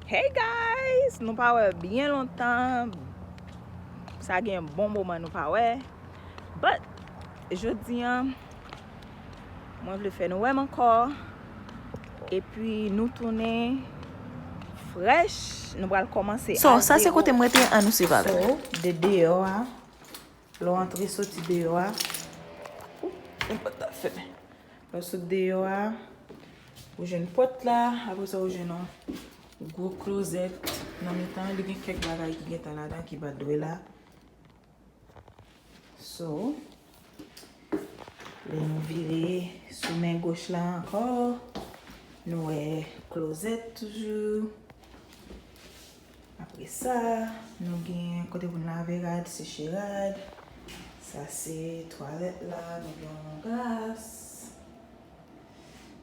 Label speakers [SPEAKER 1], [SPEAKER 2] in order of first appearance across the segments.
[SPEAKER 1] Hey guys nou pa wè byen lontan sa gen yon bon moman nou pa wè but jodi an mwen vle fè nou wèm ankò epi nou tounen fresh nou pral kòmanse a zewo. So sa se kote m rete
[SPEAKER 2] an nou swiv avèm. So de deyò
[SPEAKER 1] a Lè w antre soti deyò a. Oop yon pòt ta fèmen. Lè w sot deyò a. Ou jwenn pòt la. Apre sa ou jwenn yon gwo klozèt nan mitan an. Li gen kèk bagay ki gentan ladan ki pa dwe la. So. Lè nou vire sou men goch la ankò. Nou wè klozèt toujou. Apre sa, nou gen kote pou n lave rad, seche rad. Sa se twalèt la, nou gen yon glas.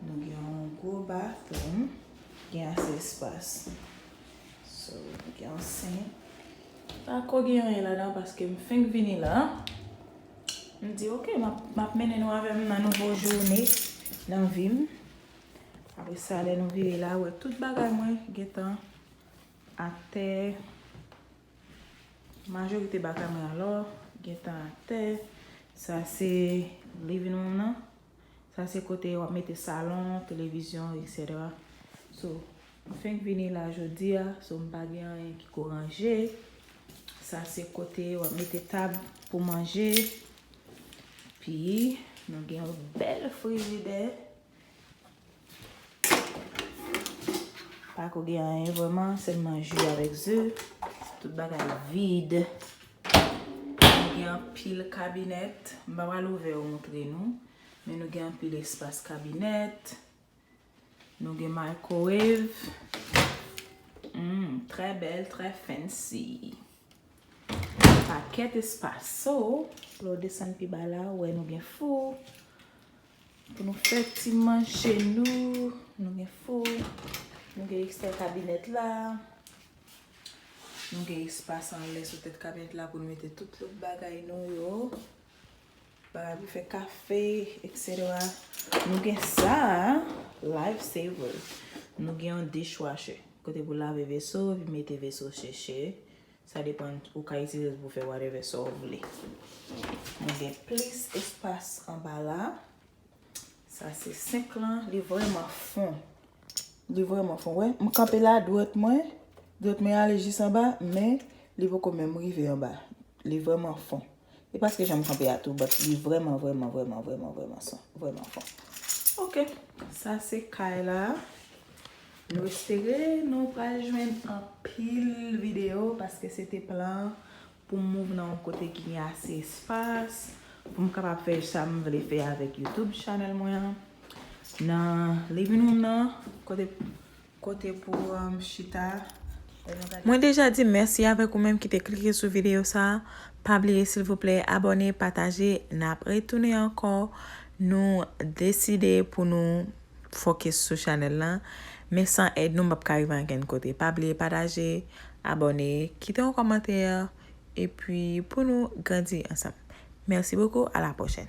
[SPEAKER 1] Nou gen yon gwo bathroom, gen ase espas. So, nou gen yon sink. Pa ko gen anyen ladan paske m fenk vini la. M di ok, m ap mennen nou avè m nan nouvo joune nan vi m. Apre sa, lè nou vire la, wè tout bagay mwen gen tan. Atè Majorite bagay mwen alò gentan atè Sa se living room nan Sa se kote wap mete salon, televizyon etc So m fenk vini la jodi a So m pa gen anyen ki ko ranje Sa se kote wap mete tab pou manje Pi nou gen yon bèl frijidè Pa ko gen anyen vreman, selman ju avèk ze. Tout bagay vid. Nou gen anpil kabinèt. M pa pral ouvè yo montre nou. Men nou gen anpil espas kabinèt. Nou gen microwave. Humm, trè bèl, trè fancy. Pakèt espas. So, lè w desann pi ba la, ou wè nou gen fou. Pou nou fè ti manje nou. Nou gen fou. Nou gen ekstè kabinèt la. Nou gen espas anlè sou tèt kabinèt la pou nou mete tout lòt bagay nou yo. Bagay pou fè kafe, eksetera. Nou gen sa a. Life saver. Nou gen yon dishwasher. Kote pou lave veso epi mete veso seche. Sa depan ou ka itilize l pou fè whatever sa w vle. Mwen gen plis espas anba la. Sa se sink lan. Li vreman fon. Li vreman fon. Wè m kanpe la dwèt mwen. Dwèt mwen ale jis anba. Men li poko menm rive anba. Li vreman fon. E paske janm kanpe a tou but li vreman vreman vreman vreman vreman son vreman fon. Ok sa se kay la. Nou espere nou pral jwenn anpil video paske se te plan pou m move nan yon kote ki gen ase espas pou m kapab fè sa m vle fè avèk YouTube channel mwen an. Nan living room nan kote Kote pou chita lè nou gade. Mwen
[SPEAKER 2] deja di mèsi avèk ou menm ki te klike sou videyo sa, pa bliye silvouplè abòne, pataje, nap retounen ankò, nou deside pou nou fokis sou chanèl lan, men san èd nou m pap ka rive ankenn kote, pa bliye pataje, abòne, kite yon kòmantè, epi pou nou grandi ansanm. Merci beaucoup, à la prochaine.